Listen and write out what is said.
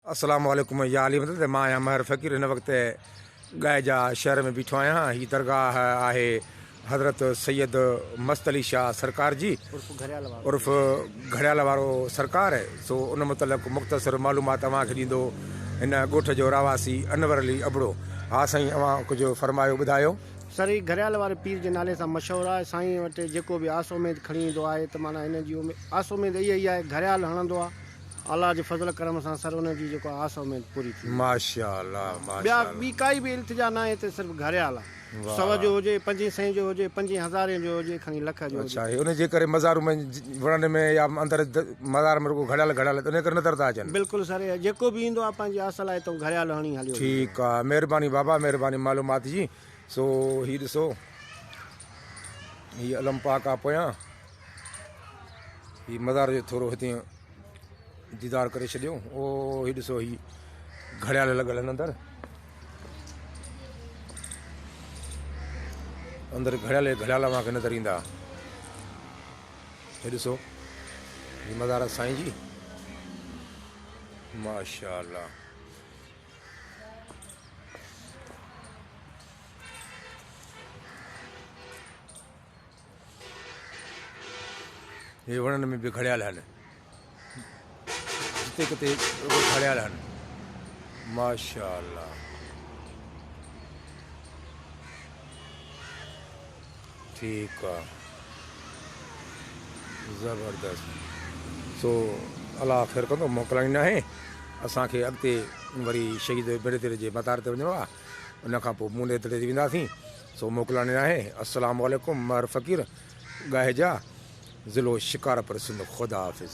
السلام عليڪم يا علي مدد مان آهيان مهر فقير هن وقت ڳائجا شهر ۾ بيٺو آهيان هي درگاهه آهي حضرت سيد مست علي شاهه سرڪار جي عرف گهڙيال وارو سرڪار سو ان متعلق مختصر معلومات اوهان کي ڏيندو هن ڳوٺ جو رهواسي انور علي ابڙو ها سائين اوهان ڪجهه فرمايو ٻڌايو. سر هي گهڙيال واري پير جي نالي سان مشهور آهي سائين وٽ جيڪو به آس اميد کڻي ايندو آهي ته معنيٰ هن جي آس اميد اهي ئي آهي گهڙيال هڻندو آهي الله جي فضل ڪرم سان سر انهن جي جيڪو آس اميد پوري ٿي وئي. ماشاء الله ماشاء ٻيا الله. ٻي ڪائي به التجا ناهي هتي صرف گهريال آ. واھ سو جو واھ. هجي پنجين سئين جو هجي پنجين هزارين جو هجي کڻي لک جو هجي. اڇا هي انهي جي ڪري مزارون ۾ وڻن ۾ يا اندر د مزار ۾ رڳو گهڙيال گهڙيال انهي ڪري نظر ٿا اچن. بلڪل سر اهي جيڪو به ايندو آ پنهنجي آس لاء هتئون گهريال هڻي هليو ويندو آ. ٺيڪ آ مهرباني بابا مهرباني معلومات جي سو هي ڏسو هي علم پاڪ آ پويان. هي مزار جو ٿورو هتي ديدار ڪري ڇڏيو او هي ڏسو هي گھڙيال لڳل آهن اندر اندر گھڙيال گھڙيال اوهان کي نظر ايندا هي ڏسو هي مزار سائين جي ماشاء الله هي وڻن ۾ به گهڙيل هن. جتي ڪتي رڳو گهڙيل هن. ماشاء الله ٺيڪ آ زبردست سو الله خير ڪندو موڪلائين نه آهي اسان کي اڳتي وري شهيد برادر جي مزار تي وڃڻو آ ان کان پوء مون تي وينداسين سو موڪلاني آهي. السلام عليڪم مهر فقير ڳاهيجا ضلعو شڪارپور سنڌ خدا حافظ.